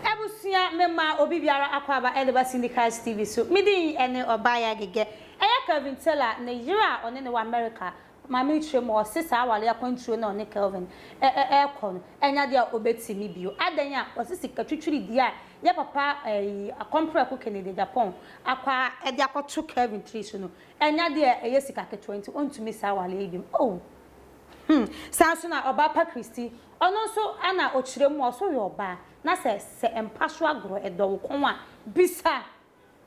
Abusua, mema obi biara akwaaba ɛde ba Cindy Christ TV so. Me din ɛne Ɔbaayewa Agege. Ɛyɛ Kelvin Taylor ne yere a ɔne no wɔ America. Maame no kyerɛ mu a ɔse saa aware akwantuo no a ɔne Kelvin ɛɛkɔ no ɛnyɛ adeɛ a ɔbɛtumi bio. Adɛn a? Ɔse sika twitwiridie a yɛn papa ɛyi Akɔmprɛko Kennedy Agyapong Akwa a de akɔto Kevin tiri so no, ɛnyɛ ade a ɛyɛ sika ketewa nti ontumi saa aware yi biom. Oh! Hmm! Saa nso na ɔbaa pa Christy, ɔno nso na ɔkyerɛ mu a ɔso yɛ ɔbaa, na sɛ sɛ mpa so agorɔ ɛdɔ wo kɔn a, bisa!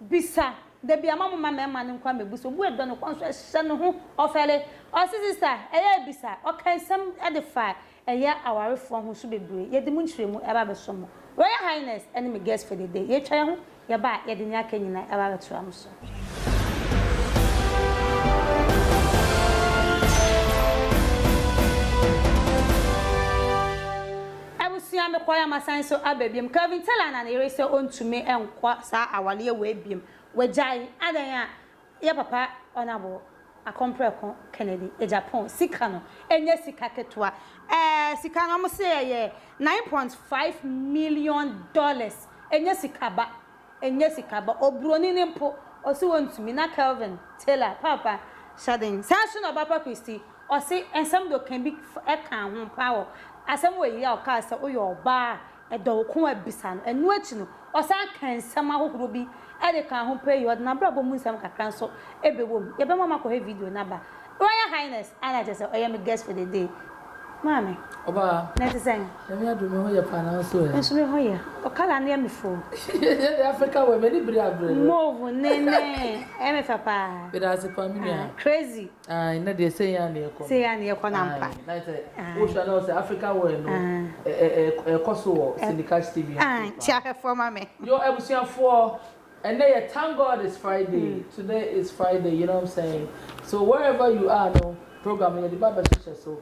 Bisa! Da biara ma momma mmarima no nkɔ mmɛbu sɛ obu a ɛdɔ no kɔn so ɛhyɛ no ho ɔfɛre. Ɔse, Sista, ɛyɛ a bisa! Ɔkaa nsɛm de faa Ɛyɛ awarefoɔ ahosu bebree. Yɛde mo nkyerɛmu ɛreba abɛsɔ mo Royal Highness ɛne me guest for the day. Yɛatwa yɛn ho yɛba a yɛde nea aka nyinaa ɛreba abɛtra mo so. Abusua mekɔeɛ a masan nso aba biom. Kelvin Taylor na ne yere sɛ ɔntumi nkɔ saa awareɛ wei biom. Wagyae. Adɛn a? Yɛ papa Honourable Akompreko Kennedy Agyapong sika no nyɛ sika ketewa eh sika no wɔn se ɛyɛ nine point five million dollars ɛnyɛ sika ba ɛnyɛ sika ba obroni no mpo ɔse ɔntumi na Kelvin Taylor paapa hyɛden saa nso na Obapa Christy ɔse nsɛm de ɔka bi fa ɛka ho paa wɔ asɛm wɔ yi a ɔkaa sɛ woyɛ ɔbaa a Dɔ wo ko a bisa no. Ɛno akyi no, ɔsan kaa nsɛm ahohorow bi de kaa ho pɛɛ yie. Ɔde n'abrabɔ mu nsɛm kakra nso bɛwom. Yɛbɛma moakɔhwɛ video no aba. Royal Highness, a na kyerɛ sɛ ɔyɛ me guest for the day. Maame, Ɔbaa, na ɛte sɛn? Nyame adom me ho yɛ paa, na wo nso ɛ? Me nso me ho yɛ. Wo colour no yɛ me foo. Ɛyɛ deɛ Africa wear, m'ani bere aberɛ no. Mauve, ne, ne, ɛyɛ me fɛ paa. Meda ase paa, me nua. Crazy. Ae na deɛ sei aa na yɛkɔ no. Sei aa na yɛkɔ no ampa. Ae na sɛ wo hwɛ a na wo sɛ African wear no ɛkɔ so wɔ Sindika Stadium. Ae nti ahwɛfoɔ ma me. Yo abusuafoɔ ɛnɛ yɛ thank God it's Friday today is Friday you know what I'm saying so wherever you are no program no yɛde ba bɛhyehyɛ so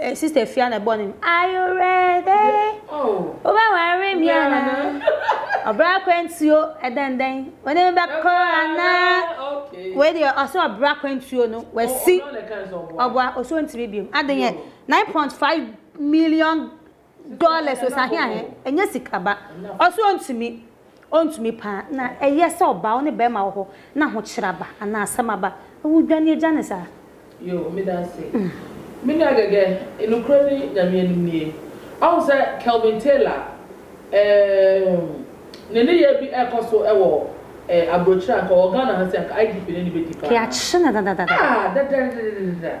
Eh, sister Fia na ɛbɔ no. Are you ready? Wobɛware me anaa? Ɔbra akwantuo ɛdɛndɛn wɔne me bɛkɔ anaa? Wei deɛ ɔsɛ ɔbra akwantuo no wasi ɔboa ɔsɛ ɔntumi biom. Adeɛ 9.5 million Dollars o sahe ahe ɛnyɛ sika ba ɔse ɔntumi ɔntumi paa na ɛyɛ sɛ ɔbaa wo ne bɛɛma wɔ hɔ na ahokyerɛ aba anaa asɛm aba na wo dwane agya ne saa. Yoo medase me nua gɛgɛ nokorɛ ni Nyame anim nie wahu sɛ Kelvin Taylor eemm ne neyɛɛ bi ɛɛkɔ so wɔ eh abrokyire anka ɔwɔ Ghana ha sei anka IGP ne ne bɛdi paa Yɛakye no dadadada. Ah dadadadadada.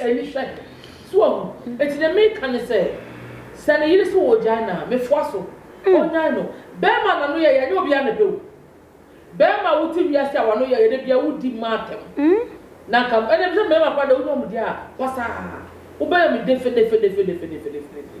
ani hwɛ. So wahu? Enti nea mereka ne sɛ, sɛ ne yere se ɔregyae no a, mefoa so. Ɔnnyae no. Barima a n'ano yɛ yɛ, ɛnyɛ obiara na ɛpɛ o. Barima a wote wiase a w'ano yɛ yɛ da biara wodi mma atɛm. Na anka ɛnna sɛ mmarima koraa deɛ wonya wɔn deɛ a, pasaa. Wobɛyɛ me defenefenefenefenefenefenefene.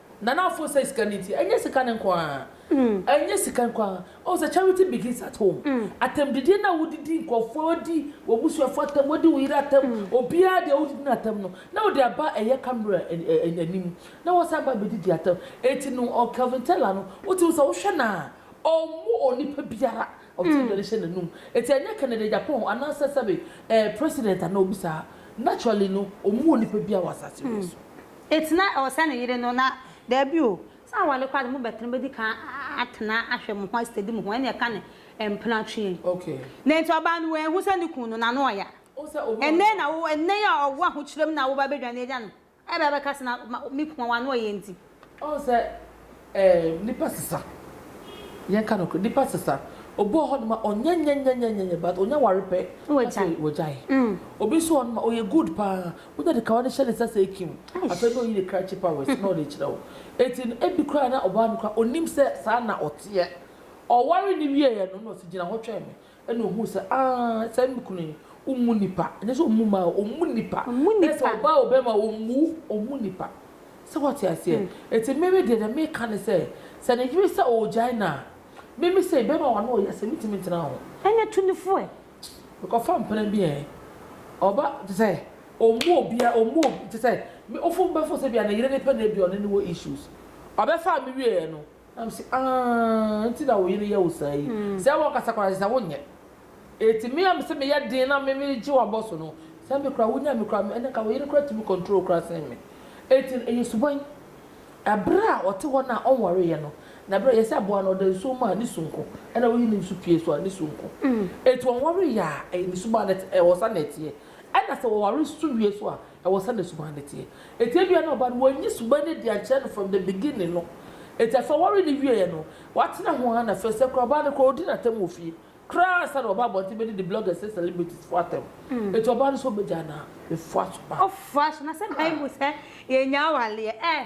Nana afo sɛ sika no nti ɛnyɛ sika no nko ara ɛnyɛ sika nko ara ɔhu sɛ charity begins at home atɛmdidie no a wodidi nkurɔfoɔ wodi w'abusuafoɔ atɛm wodi wo yere atɛm obiara deɛ wodidi no atɛm no na wode aba ɛyɛ camera anim na wasan ba abɛdidi atɛm enti no ɔ Kelvin Teller no wote wo sɛ wohwɛ no a ɔmmo onipa biara ɔte aduane hyɛ n'anum enti ɛnyɛ Kennedy Agyapong anaasɛ sɛbe ɛɛ president anaa obi saa naturally no ɔmmo onipa biara wɔ asase wei so. Eti na ɛwɔ sɛ ne yere no na. Daabi o, sɛ aware koraa de, mo bɛtena, mo bɛdi kan atena ahwɛ mo ho asitadi mo ho, ɛna ɛka ne mpena twe. Okay. Na enti ɔbaa no wanhu sɛ ne kunu no, n'ano ɔya. Wo sɛ obi ɔno. Ɛnnɛ na wo, ɛnnɛ yi a ɔwɔ ahokyerɛ mu na woba abɛdwane agya no, ɛba abɛka sɛ na, me kunu a w'ano ɔya nti. Ɔhu sɛ Ɛɛ nipa sesa yɛn ka nɔkorɛ nipa sesa obi wɔ hɔ nom a ɔnyɛ nyɛnyɛnyɛnyɛnyɛ but ɔnya ware pɛ na afei wagyae obi nso wɔ hɔ nom a ɔyɛ good paa wonya de kawa no hyɛ ne nsa sɛ kim afei na ɔyi ne krakye powers na ɔde kyerɛ wo enti no ebi koraa na ɔbaa no koraa ɔnim sɛ saa na ɔteɛ ɔware no wieɛ no na ɔsi gyina hɔ twɛn me Ɛna ɔhuu sɛ, aah, saa me kunu yi, ɔmmu nnipa. Ɛnyɛ sɛ ɔmmu mmaa o, ɔmmu nnipa. Dɛ sɛ ɔbaa o barima o, ɔmmu, ɔmmu nnipa. Sɛ woate aseɛ? Enti me me deɛ, deɛ meka ne sɛ, sɛ ne yere sɛ ɔregyae no a, me me sei, barima wɔ ano ɔyɛ asɛm, mentumi ntena ho. Ɛnyɛ tu no fo ɛ. Mekɔfa mpena bi ɛ. Ɔba, te sɛ, ɔmmu obiara, ɔmmu obi, te sɛ, me, wofo bɛfo sɛ bia ne yere ne pɛ na ebia ɔne no wɔ issues. Ɔbɛfaa me wieɛ no, Na mise, Aah, nti na wo yere yɛ wo saa yi? Sɛ ɛwɔ kasa koraa ɛsɛ sɛ wonyɛ. Enti me a mese meyɛ den na me megye w'abɔ so no, sɛ me koraa wonyaa me koraa a, ɛnna nka wo yere koraa tumi control wo koraa sen me. Enti no, ɛyɛ suban. Bere a ɔte hɔ no a ɔnwareeɛ no, na bere a yɛsɛ aboa no, ɔda nsuo mu a, ne su nko, ɛnna woyi ne nsu pue so a, ne su nko. Enti ɔnwareeɛ a, ɛyɛ ne suban na ɛte, ɛwɔ saa na ɛteɛ. Ɛnna sɛ wɔware su wie so a, Ɛwɔ sɛ ne suban no teɛ. Enti ebia na ɔbaa no wanyi suban no adi ankyerɛ no from the beginning no. Enti afei ɔwaree no wieɛ no, watena ho ara na afei sɛ koraa ɔbaa no koraa ɔdi n'atɛm wɔ fie koraa ansa na waba abɔnten bɛdidi bloggers ne celebrities foɔ atɛm. Enti ɔbaa no sɛ ɔbɛgyaa no a, mefoa so paa. Ɔfoa so. Na sɛ bible sɛ yɛnnya awareɛ ɛ?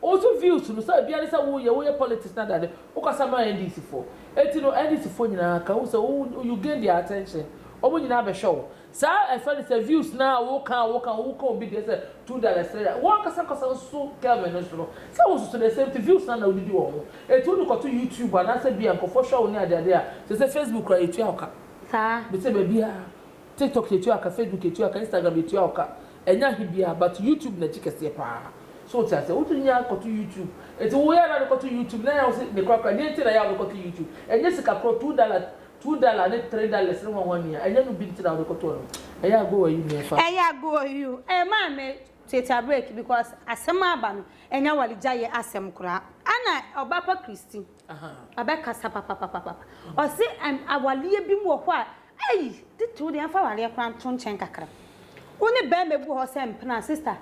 Wo so views no sɛ bia ne sɛ wo yɛ wo yɛ politics na dane wo kasa ma NDC foɔ enti no NDC foɔ nyinaa ka wo sɛ wo you gain their attention ɔmo nyinaa bɛhwɛ wo saa ɛfrɛ no sɛ views no a wo ka a wo ka wo ka obi deɛ sɛ two dollars three dollars wo ankasa ankasa nso Kelvin no nso no sɛ wo nso so the same thing views no a na wo de di wɔn ho enti wo de kɔto YouTube anaasɛ bia nkorɔfoɔ hwɛ wo ne ade ade a sɛsɛ Facebook koraa yɛtua wo ka saa. Mese baabiara, TikTok yɛtua wo ka, Facebook yɛtua wo ka, Instagram yɛtua wo ka, Ɛnyɛ ahe biaa but YouTube nakyi kɛseɛ paa so wote aseɛ wotumi nya kɔto YouTube nti wo yɛ na wode kɔto YouTube na ɛyɛ wo se nekora kora deɛ nti na ɛyɛ a wode kɔto YouTube ɛnyɛ sika korɔ two dollar two dollar ne three dollars ne hwanhwa nua ɛnyɛ no bi nti na wode kɔtoɔ no ɛyɛ a go a you nua fa Ɛyɛ a go a you eh maa me tuatua break because asɛm a aba no ɛnyɛ aware gya yɛ asɛm koraa ɛna ɔba pa Christy ɔbɛ kasa papapapapa ɔse awaleɛ bi wɔ hɔ a Ei! Tete wo deɛ mfa awareɛ koraa nto nkyɛn kakra. Wo ne bɛɛma egu hɔ sɛ mpena sister.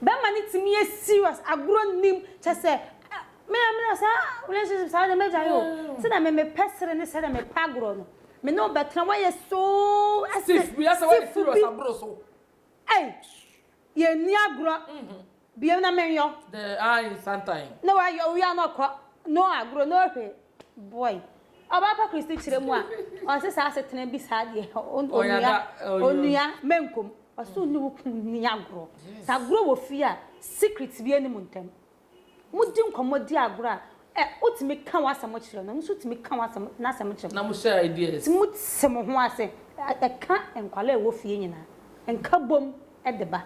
Bɛɛma no tumi yɛ serious, agorɔ nnim, kyɛ sɛ me na mena saa relationship saa deɛ mɛgyae o. Sɛdeɛ me mepɛ sere ne sɛdeɛ mepɛ agorɔ no, me ne wo bɛtena woayɛ so ɛsɛ stiff bi. Ei! Yɛnni agorɔ. Bio na menyɔ. Dɛ ae nsantan. Na ɔayɔ wia na ɔkɔ no agorɔ na ɔhwe boy. Ɔbaa pa Christy kyerɛ mu a, ɔnnsɛ saa asetsena bi saa deɛ onua, onua Menkom, ɔsɛ wo ne wo kun nni agorɔ. Sɛ agorɔ wɔ fie a, secret biara nni mo ntɛm. Modi nkɔmmɔ di agorɔ a, Ɛ, wotumi ka w'asɛm kyerɛ no, ɔno nso tumi ka w'asɛm, n'asɛm kyerɛ wo. Na mohyɛ ideas. Nti mote mo ho ase. Ɛ, ɛka nkwadaa a ɛwɔ fie nyinaa. Nkabom de ba.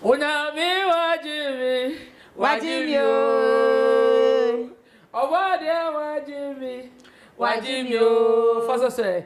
Onyame wagye me, wagye me oo. Ɔbɔadeɛ wagye me, wagye me oo. Fa sɛ sɛ,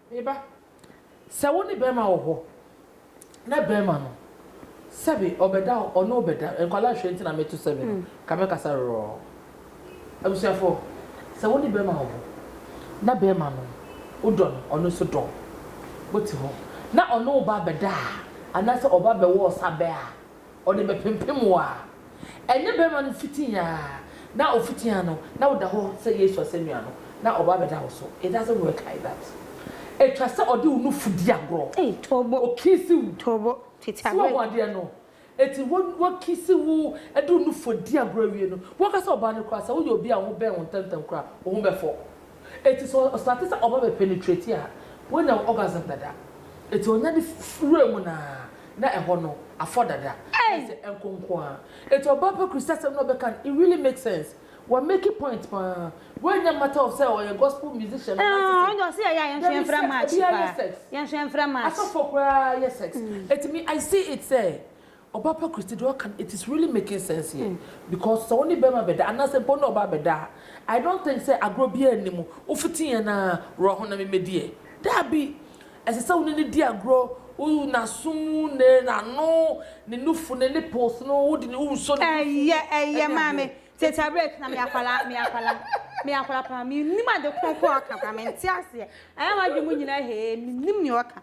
Me ba, sɛ wo ne barima wɔ hɔ na barima no, sɛbe ɔbɛda hɔ, ɔne wo bɛda, nkwadaa hwɛ nti na meto sɛbe no, ka me kasa rorɔɔ. Abusuafoɔ, sɛ wo ne barima wɔ hɔ na barima no, wo dɔ no, ɔno nso dɔ wo, mo te hɔ na ɔne wo ba abɛda a, anaasɛ ɔba bɛwɔ ɔsa bɛ a, Ɔde bɛpempem wo a, ɛnyɛ bɛrima no fiti a na ɔfiti a no na woda hɔ sɛ Yesu asɛnnua no na ɔba abɛda wo so. It doesn't work like that. Ɛtwa sɛ ɔde wo nufu di agorɔ, ɔkiisi wo, sɛ woahu adeɛ no. Enti wakiisi wo de wo nufu adi agorɔ awie no, woankasa ɔbaa no koraa sɛ woyɛ obi a wo ho bɛn wo ntɛmntɛm koraa a, wo ho bɛfɔ. Enti sɛ ɔstate sɛ ɔba bɛ penetrate a, wanya orgasm dada. Enti ɔnya de wuraa mu no ara na ɛhɔ no afɔ dada. Kyerɛ sɛ ɛnko nko ara. Enti ɔbaa pa Christasɛm no a ɔbɛka no, it really makes sense. Wa make point pa ara. Wei nyɛ matter of sɛ ɔyɛ gospel musician anaa te sɛ. Ɔnde ɔse yɛyɛ a yɛnso yɛmfrɛ match paa. Yɛnso yɛmfrɛ match. Asɔfoɔ koraa yɛ sex. Enti me I see it sɛ Ɔbaa pa Christy deɛ ɔka no it is really making sense here because sɛ wo ne bɛɛma bɛda anaa sɛ mpo wo ne ɔbaa bɛda a I don't think sɛ agorɔ biaa nni mu wo fiti yɛn aa wura ho na me mɛdi ɛ daabi ɛsɛ sɛ wo ne no di agorɔ wo naso mu ne nano ne nufu ne nipples no wo de ne wo nsɔ ne nufu mu ɛyɛ ɛyɛ maame tete abrɛ na me akwala me akwala me akwala pa me nim ade kronkron ɔka pa me nte aseɛ ɛyɛ ma adwene mu nyina hee me nim ne ɔka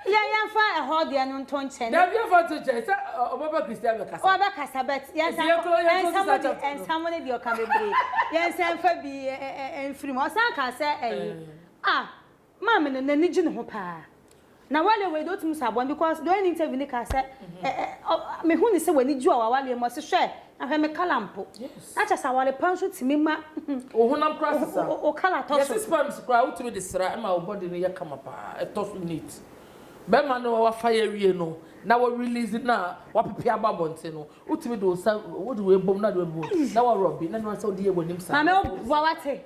Yɛn yɛnfa ɛhɔ deɛ no nto nkyɛn. Dabi yɛnfa nto nkyɛn sɛ ɔbɛba Christian bɛkasa. Ɔbɛkasa but yɛnsa yɛnsa mu ne deɛ ɔka bebree yɛnsa nfa bi nfiri mu ɔsan kaa sɛ ɛyi ah maame no n'ani gye ne ho paa na wale wei deɛ otumi sɔ abɔn because deɛ ɔyɛ ne interview ne kaa sɛ ɛɛ mehu ne sɛ w'ani gye wɔ w'awaleɛ mu ɔsi hwɛ. Na hwɛ, me kala mpo. Yes. Na kyɛ sɛ aware pa nso tumi ma. Wo honam koraa sesa. Wo wo kala tɔ so. Yɛse sperms koraa wotumi de sra ɛma wo body no yɛ kama paa, ɛtɔ so neat. Bɛrima no wafa yɛ awie no, na wa release no a wapepe abɔ abɔnten no, wotumi de wo nsa, wode wei bom na wode wei abom, na wa rub bi, na ɛno ara sɛ wode yɛ w'anim saa. Maame wo boa wate.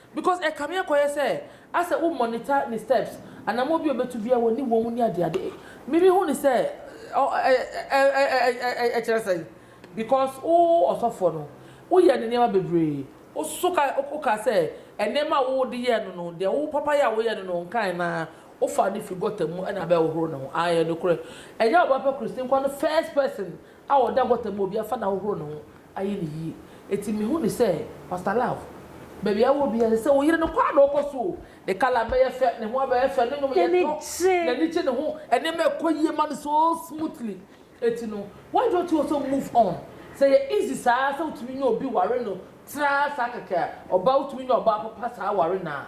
Because ɛkame akɔyɛ sɛ asɛ wo monitor ne steps anamɔ bi ɔbɛtu bia wani wɔm ne adeade me me hu ne sɛ ɛkyerɛ sɛn because wo ɔsɔfoɔ no wo yɛ ne nneɛma bebree wo so wo ka sɛ nneɛma wo de yɛ no no deɛ wo papa yɛ a wo yɛ no no nkae na wo fa no firi gɔta mu ɛna abɛ hohoro ne ho ae ɛnokorɛ ɛnyɛ ɔba pɛ Christine kwa no first person a ɔda gɔta mu a obi afa no ahohoro ne ho ayɛ no yie. Enti mehu no sɛ, Pastor Love, baabi a wowɔ biara, ɛsɛ sɛ wo yere no kɔ ara na ɔkɔ so o. Ne colour abɛyɛ fɛ, ne ho abɛyɛ fɛ, ne nnwom yɛ dɔ, n'ani gye ne ho, nneɛma ɛkɔ yie ma no so smoothly. Enti no, why don't you also move on? Sɛ ɛyɛ easy saa ara sɛ wotumi nya obi ware no tra saa kɛkɛ a, ɔbaa wotumi nya ɔbaa papa saa ware no a,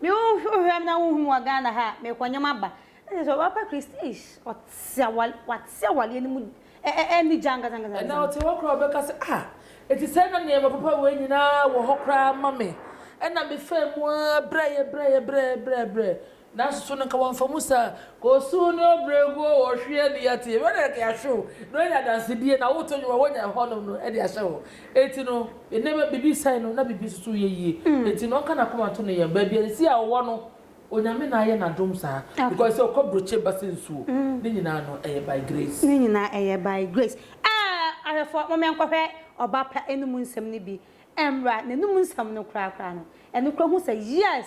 Me wo hwɛ hwɛ na wo hu me wɔ Ghana ha a me kɔ nyɛ ma ba. Ɛsɛ sɛ ɔba pa Christ eish ɔte awale wate awaleɛ no mu ɛ ɛ ɛni gya ankasa ankasa ankasa. Ɛna ɔte hɔ koraa ɔbɛka sɛ ah enti sɛɛ na nneɛma papa wei nyinaa wɔ hɔ koraa ma me ɛna me faa mu aa brɛɛ brɛɛ brɛɛ brɛɛ brɛɛ nanso so no nka wamfa mu saa kosuu ne ɔbrɛguo wɔ hweɛ ne yɛte wɛnɛɛ ka yɛahwe wo na woanya adansedie na woto nnwom a wonya ɛhɔ nom no de ahyɛ hɔ Enti no, nneɛma biribi sɛe no na biribi nso yɛ yie. Enti no, ɔka n'akoma to ne yam. Baabi a nsi a ɔwɔ no, Onyame na ayɛ no adom saa. Because sɛ ɔkɔ brokye ba sɛ nsuo. Ne nyinaa no, ɛyɛ by grace. Ne nyinaa ɛyɛ by grace. Aa! Ahwɛfoɔ, momma yɛnkɔhwɛ ɔba pa anum nsɛm no bi mmra. N'anum nsɛm no koraa koraa no, ɛno koraa hu sɛ, yes,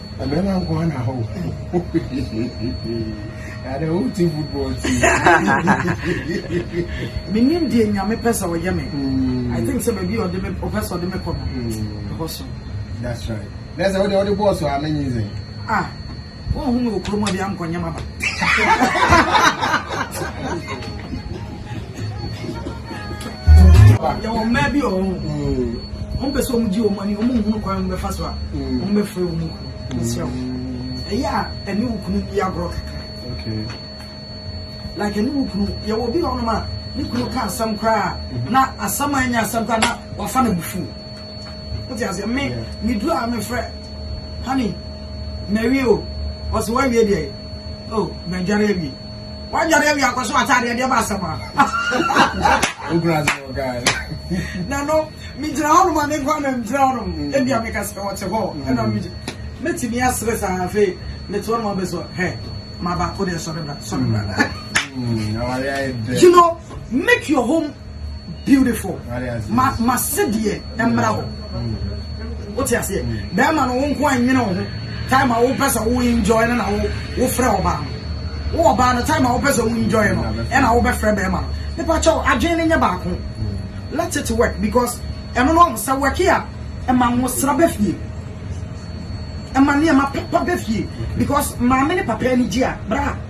Mmarima nko ara na hɔ. Ada wo ti football ti. Menim deɛ nyame pɛ sɛ ɔyɛ me. Hmm. I think sɛ baabi a ɔde me ɔpɛ sɛ ɔde me kɔ no. Hmm. Ɛhɔ so. That's right. Na sɛ wode ɔde bɔɔl so a menye nsɛn. Ah, wɔn ho mi wɔ kurom a bi ankɔnyɛ ma ba. yɛwɔ mmaa bi wɔ hɔ wɔn pɛ sɛ wɔn gye wɔn ani wɔn nhunu kwan wɔn bɛfa so a wɔn bɛfrɛ wɔn kunu nsira wɔn ɛyɛ a ɛne wo kunu bi agorɔ kakra like ɛne wo kunu yɛwɔ bi wɔ hɔ nom a ne kunu ka asɛm koraa na asɛm a ɛnyɛ asɛm koraa na wafa na bufu wote aseɛ me meduru a mefrɛ honey mawie o ɔsɛ woawie deɛ o madware awie wanyare awie akɔ so ataade ɛdeɛ ba asɛm a na no megyina hɔnom a menkɔ na megyina hɔnom mm. ebia meka sɛ ɔte hɔ mm. ɛna megye mɛtumi asere saa afei mete hɔnom abɛ so hɛ ma baako deɛ sɔre bra sɔre bra mm, you know Make your home beautiful. Ma ma sedeɛ mmra hɔ. Wote aseɛ? Bɛrima no wo nko a nyene wo ho. Time a wopɛ sɛ wo enjoy no na wo wofrɛ ɔbaa no. Wo ɔbaa no time a wopɛ sɛ wo enjoy no ɛna wobɛfrɛ bɛrima no. Mepa kyɛw adwene no nyɛ baako. Let it work because ɛno no ɔho sɛ work a ɛma nwosra bɛ fie. Ɛma nneɛma papa bɛ fie because maame ne papa ani gye a bra.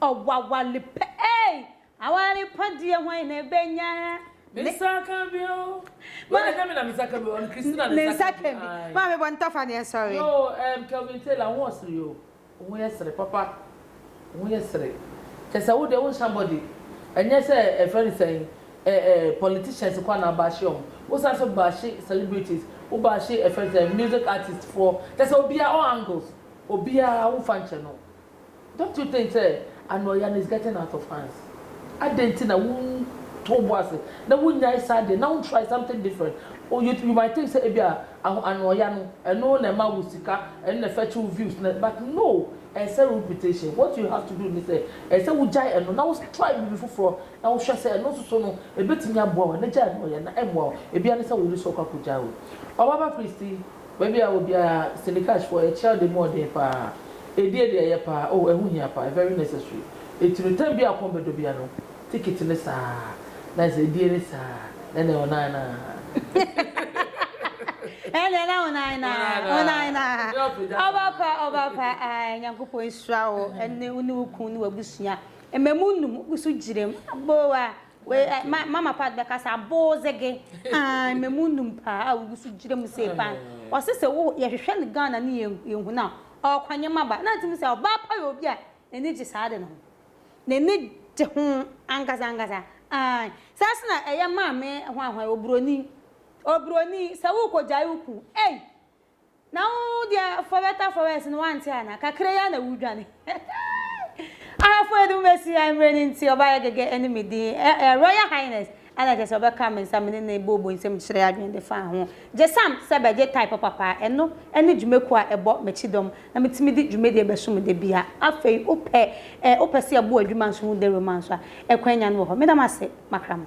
Ɔwawale pɛ ei! Aware pa deɛ hwan na ɛbɛnya? Me nsa ka bi o. Wei deɛ ɛnyɛ me na me nsa ka bi o, ɔno Christina na ne nsa ka bi. Maame bɔ ntɔfa ne nsɔre. Yo ɛɛm Kelvin Taylor wo ho ɔsere yo, wo ho yɛ sere papa, wo ho yɛ sere, kyɛ sɛ wo deɛ wo nhyɛ abɔde, ɛnyɛ sɛ ɛfrɛ no sɛn ɛɛ ɛɛ politicians koraa na wo baahye wɔn, wo san nso baahye celebrities, wo baahye ɛfrɛ no sɛn music artist foɔ, kyɛ sɛ obiara all angles, obiara wo nfa nkyɛ no, Don't you think sɛ anoɔya no is getting out of hands? Adɛn nti na wontɔ wo bo ase na wonyae saa adeɛ na wo try something different? Oh you you might think sɛ ebi a aho anoɔya no ɛno na ɛma wo sika, ɛno na ɛfɛtch wo views na but no ɛnsɛe wo reputation. What you have to do ne sɛ ɛsɛ sɛ wogyae ɛno na wo try biribi foforɔ na wohwɛ sɛ ɛno nso so no ɛbɛtumi aboa wo anaa gyae anoɔya na ɛmmoa wo. Ebi ara ne sɛ wo ne so akɔ akɔgyae o. Ɔbaba Christy. Baabi a wɔ biara, Sindikash foɔ, yɛkyerɛ ade mu ɔden paa. Ɛdie deɛ ɛyɛ paa, oh ɛho hia paa, very necessary. Ɛti no time biara kɔn bɛdɔ biara no, ticket no saa, na ɛsɛ ɛdie no saa, na ɛnɛ ɔnan naa. Ɛnɛ na ɔnan naa, ɔnan naa. Ɔba pa, ɔba pa, ae, Nyankopɔn nhyira wo, ɛne wo ne wo kunu ne w'abusua. Mmamu nnum, wogu so gyina mu, aboo ah. Wei ɛ, ma, Mama Pat bɛkasa, Aboodze-ge, aah, mmamu nnum paa a wogu so gyina mu sei paa no. Ɔse sɛ wo, yɛhwehwɛ no Ghana ne yɛn, yɛnhu no a, ɔɔkɔ nyɛma ba. Na ntumi sɛ, ɔbaa pa yɛ obi a n'ani gye saa ade no ho. N'ani gye ho ankasa ankasa, aah. Saa nso na ɛyɛ Maame hwanhwan, Oburoni, Oburoni, sɛ worekɔgyae wo kun, ei, Na wo deɛ for better for worse no wante anaa? Kakra yi ara na wodwane eeii Ahafo a ɛde mo bɛsi ha mmerɛ no nti ɔbaa yɛ gɛgɛ ne me din eh eh Royal Highness ɛna kyerɛ sɛ ɔbɛka me nsa me ne no booboo nsam mekyerɛ adwene de faa ho gye sam sɛ bɛgye type papa a ɛno ne dwumakuo a ɛbɔ m'akyidɔm na metumi de dwumadie bɛsom da biara Afei wopɛ eh wopɛ sɛ yɛbɔ adwuma nso ho dawuro ma nso a ɛkwan nya no wɔ hɔ Meda mo ase makrama.